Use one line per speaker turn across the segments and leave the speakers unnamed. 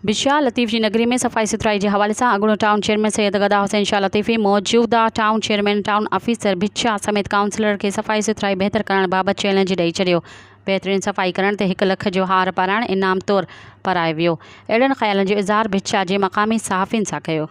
به شاهه لطيف جي نگري ۾ صفائي سٿرائي جي حوالي سان اڳوڻو ٽائون چيئرمين سيد گدا حسين شاهه لطيفي موجوده town chairman town officer Bhitshah سميت ڪائونسلر کي صفائي سٿرائي بهتر ڪرڻ بابت چئلينج ڏئي ڇڏيو بهترين صفائي ڪرڻ تي هڪ لک جو هار پارائڻ انعام طور پارايو ويو اهڙن خيالن جو اظهار ڀٽشاهه جي مقامي صحافين سان ڪيو.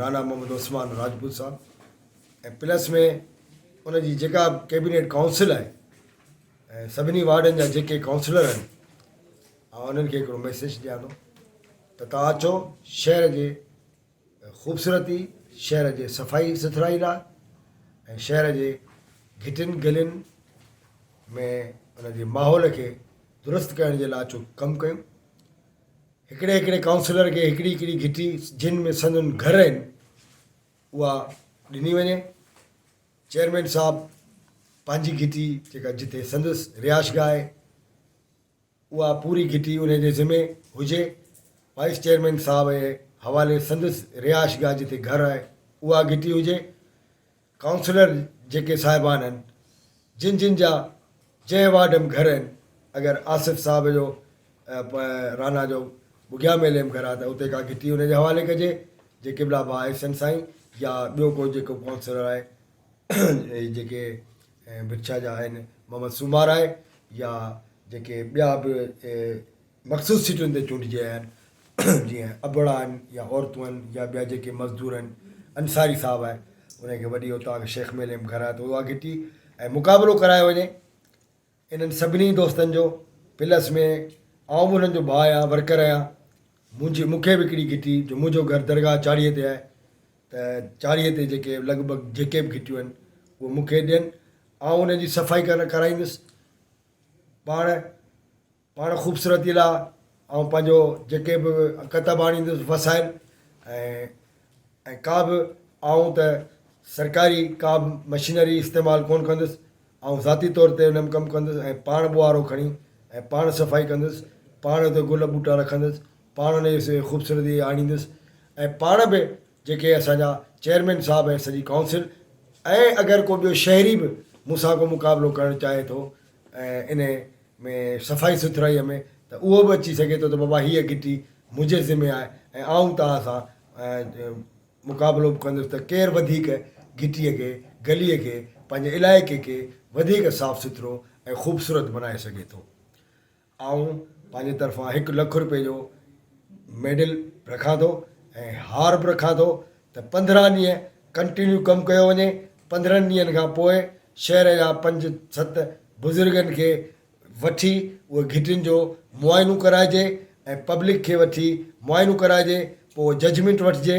رانا محمد عثمان راجپوت صاحب ۽ پلس ۾ ان جي جيڪا ڪيبينيٽ ڪائونسل آهي ۽ سڀني وارڊن جا جيڪي ڪائونسلر آهن آ انهن کي هڪڙو ميسج ڏيان ٿو ته تان اچو شهر جي خوبصورتي شهر جي صفائي سٿرائي لاء ۽ شهر جي گهٽين گلين ۾ ان جي ماحول کي درست ڪرڻ جي لاء اچو ڪم ڪيون هڪڙي هڪڙي ڪائونسلر کي هڪڙي هڪڙي گهٽي جن ۾ سندن گهر آهن اها ڏني وڃي. چيئرمين صاحب پنهنجي گهٽي جيڪا جتي سندس رهائشگاهه آهي اها پوري گهٽي انهي جي ذمي هجي. وائيس چيئرمين صاحب جي حوالي سندس رهائشگاهه جتي گهر آهي اها گهٽي هجي. ڪائونسلر جيڪي صاحبان هن جن جن جا جنهن وارڊ م گهر هن اگر آصف صاحب جو رانا جو ٻگهيا ميلي م گهر آ ته اتي ڪا گهٽي ان جي حوالي ڪجي جي قبلا با احسن سائين يا ٻيو ڪو جيڪو ڪائونسلر آهي هي جيڪي بڇا جا آهن محمد سومار آهي يا جيڪي ٻيا به مخصوص سيٽن تي چونڊجي آيا آهن جيئن ابڙا آهن يا عورتون آهن يا ٻيا جيڪي مزدور آهن انصاري صاحب آهي انهن کي وڏي اوطاق شيخ ميلي ۾ گهرايو ته اها گهٽي ۽ مقابلو ڪرايو وڃي انهن سڀني دوستن جو پلس ۾ آئون به انهن جو ڀاء آهيان ورڪر آهيان منهنجي مون کي به هڪڙي گهٽي جو منهنجو گهر درگاهه چاڙهي تي آهي ته چاڙهي تي جيڪي لڳ ڀڳ جيڪي به گهٽيون آهن اهي مون کي ڏين آئون انهن جي صفائي ڪرائيندس پاڻ پاڻ خوبصورتي لا آئون پنهنجو جيڪي به ڪتب آڻيندس وسائل ۽ ۽ ڪا به آئون ته سرڪاري ڪا به مشينري استعمال ڪونه ڪندس آئون ذاتي طور تي انم ڪم ڪندس ۽ پاڻ ٻوهارو کڻي ۽ پاڻ صفائي ڪندس پاڻ اتي گل ٻوٽا رکندس پاڻ انهي سي خوبصورتي آڻيندس ۽ پاڻ به جيڪي اسان جا چيئرمين صاحب ۽ سڄي ڪائونسل ۽ اگر ڪو ٻيو شهري به مون سان ڪو مقابلو ڪرڻ چاهي ٿو ۽ انهي ۾ صفائي سٿرائيء ۾ ته اهو به اچي سگهي ٿو ته بابا هيء گهٽي منهنجي ذمي آهي ۽ آئون توهان سان مقابلو به ڪندس ته ڪير وڌيڪ گهٽيء کي، گليء کي، پنهنجي علائقي کي وڌيڪ صاف سٿرو ۽ خوبصورت بنائي سگهي ٿو. آئون پنهنجي طرفان هڪ لک رپئي جو ميڊل به رکان ٿو ۽ هار به رکان ٿو ته پندرهن ڏينهن ڪنٽينيو ڪم ڪيو وڃي پندرهن ڏينهن کان پوء شهر جا پنج ست بزرگن کي وٺي اهي گهٽين جو معائنو ڪرائجي ۽ پبلڪ کي وٺي معائنو ڪرائجي پوء ججمينٽ وٺجي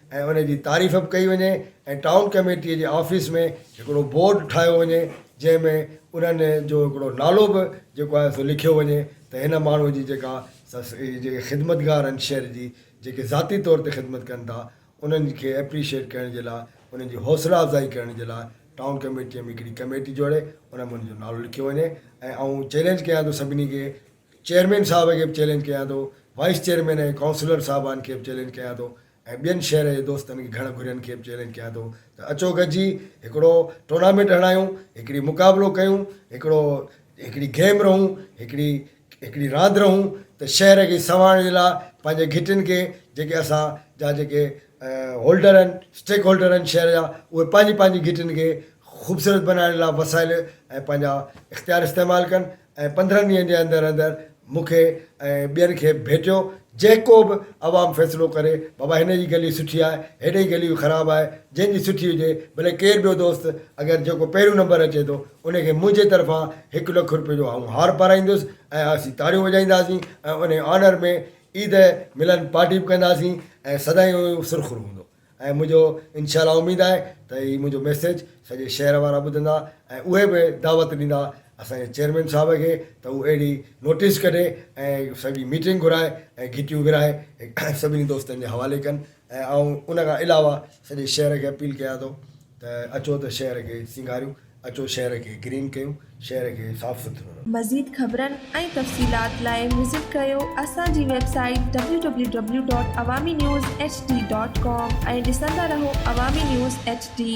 ۽ ان جي تعريف به ڪئي وڃي ۽ ٽائون ڪميٽيء جي آفيس ۾ هڪڙو بورڊ ٺاهيو وڃي جنهن ۾ انهن جو هڪڙو نالو به جيڪو آهي سو لکيو وڃي ته هن ماڻهوء جي جيڪا سا هي جيڪي خدمتگار آهن شهر جي جيڪي ذاتي طور تي خدمت ڪن ٿا انهن کي اپريشيئيٽ ڪرڻ جي لاء انهن جي حوصلا افزائي ڪرڻ جي لاء ٽائون ڪميٽيء ۾ هڪڙي ڪميٽي جوڙي ان ۾ ان جو نالو لکيو وڃي ۽ آئون چئلينج ڪيان ٿو سڀني کي چيئرمين صاحب کي به چئلينج ڪيان ٿو، وائيس چيئرمين ۽ ڪائونسلر صاحبان کي به چئلينج ڪيان ٿو ۽ ٻين شهر جي دوستن کي گهڻ گهرين کي به چئلينج ڪيان ٿو ته اچو گڏجي هڪڙو ٽورنامينٽ هڻايون، هڪڙي مقابلو ڪيون، هڪڙو هڪڙي گيم رهون، هڪڙي هڪڙي راند رهون ته شهر کي سنوارڻ جي لاء پنهنجي گهٽين کي جيڪي اسان جا جيڪي هولڊر آهن اسٽيڪ هولڊر آهن شهر جا اهي پنهنجي پنهنجي گهٽين کي خوبصورت بنائڻ جي لاء وسائل ۽ پنهنجا اختيار استعمال ڪن. ۽ پندرهن ڏينهن جي اندر اندر مون کي ۽ ٻين کي ڀيٽيو جيڪو به عوام فيصلو ڪري بابا هن جي گلي سٺي آهي هيڏي جي گلي خراب آهي جنهن جي سٺي هجي ڀلي ڪير ٻيو دوست اگر جيڪو پهريون نمبر اچي ٿو ان کي منهنجي طرفان هڪ لک روپيو جو آئون هار پارائيندس ۽ اسين تاڙيون وڄائينداسين ۽ انهي آنر ۾ عيد ملن پارٽي به ڪنداسين ۽ سدائين اهو سرخرو هوندو. ۽ منهنجو انشاء الله اميد آهي ته هي منهنجو ميسيج سڄي شهر وارا ٻڌندا ۽ اهي به دعوت ڏيندا اسان جي چيئرمين صاحب کي ته هو اهڙي نوٽيس ڪڍي ۽ سڄي ميٽنگ گهرائي ۽ گهٽيون ورهائي سڀني دوستن جي حوالي ڪن ۽ آئون ان کان علاوه سڄي شهر کي اپيل ڪيان ٿو ته اچو ته شهر کي سينگاريون، اچو شهر کي گرين ڪيون، شهر کي صاف سٿرو رکون. مزيد خبرن ۽
تفصيلات لاء وزٽ ڪريو اسان جي website W W W dot Awami news H D dot com ۽ ڏسندا رهو عوامي نيوز ايڇ ڊي.